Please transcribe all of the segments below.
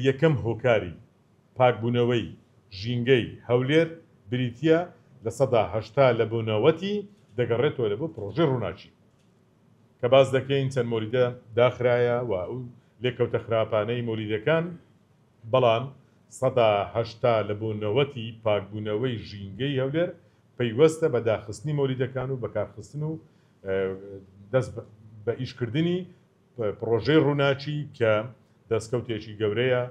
یەکەم هۆکاری پاکبوونەوەی ژینگەی هەولێر بریتییە لە سەدا هەشتا لە بۆ نەوەتی دەگەڕێتەوە لە بۆ پرۆژەی ڕووناکی کە باس دەکەین چەند مۆلیدە داخرایە و ئەو لێکەوتە خراپانەی مۆلیدەکان بەڵام سەدا هەشتا لە بۆ نەوەتی پاکبوونەوەی ژینگەی هەولێر پەیوەستە بە داخستنی مۆلیدەکان و بەکارخستن و دەست بە ئیشکردنی پڕۆژەی ڕووناکی کە دەستکەوتێکی گەورەیە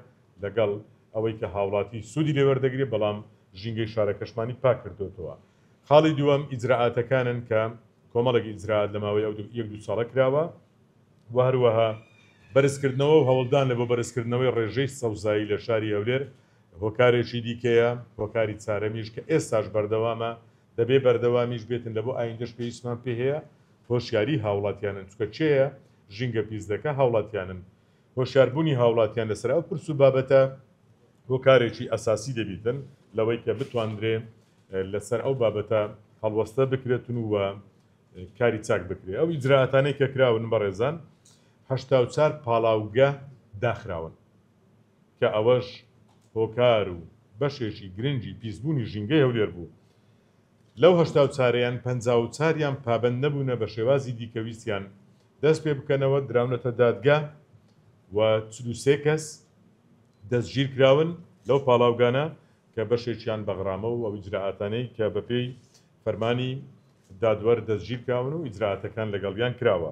لەگەڵ ئەوەی کە هاوڵاتی سوودی لێ وەردەگرێت بەڵام ژینگەی شارەکەشمانی پاک کردۆتەوە خاڵی دووەم ئیجرائاتەکانن کە کۆمەڵێک ئیجرائات لە ماوەی ئەو یەک دوو ساڵە کراوە و هەروەها بەرزکردنەوە و هەوڵدان لە بۆ بەرزکردنەوەی ڕێژەی سەوزایی لە شاری هەولێر هۆکارێکی دیکەیە هۆکاری چارەمیش کە ئێستاش بەردەوامە دەبێ بەردەوامیش بێتن لە بۆ ئایندەش پێویستمان پێ هەیە هۆشیاری هاوڵاتیانن چونکە کێیە ژینگە پیس دەکا هاوڵاتیانن هۆشیار بونی هاوڵاتیان لەسەر ئەو پرس و بابەتە هۆکارێکی ئەساسی دەبیتن لەوەی کە بتواندرێ لەسەر ئەو بابەتە هەڵوەستە بکرێتن و کاری چاک بکرێ ئەو ئیجراتانەی کە کراون بەڕێزان هەشتا و چار پاڵاوگە داخراون کە ئەوەش هۆکار و بەشێکی گرنگی پیسبوونی ژینگەی هەولێر بوو لەو هەشتا و چارەیان پەنجا و چاریان پابەند نەبوونە بە شێوازی دیکە ویستیان دەست پێ بکەنەوە دراونەتە دادگا و چل و سێ کەس دەستگیر کراون لەو پاڵاوگانە کە بەشێکیان بە غرامە و ئەو ئیجرائاتانەی کە بە پێی فەرمانی دادوەر دەستگیر کراون و ئیجرائاتەکان لەگەڵیان کراوە.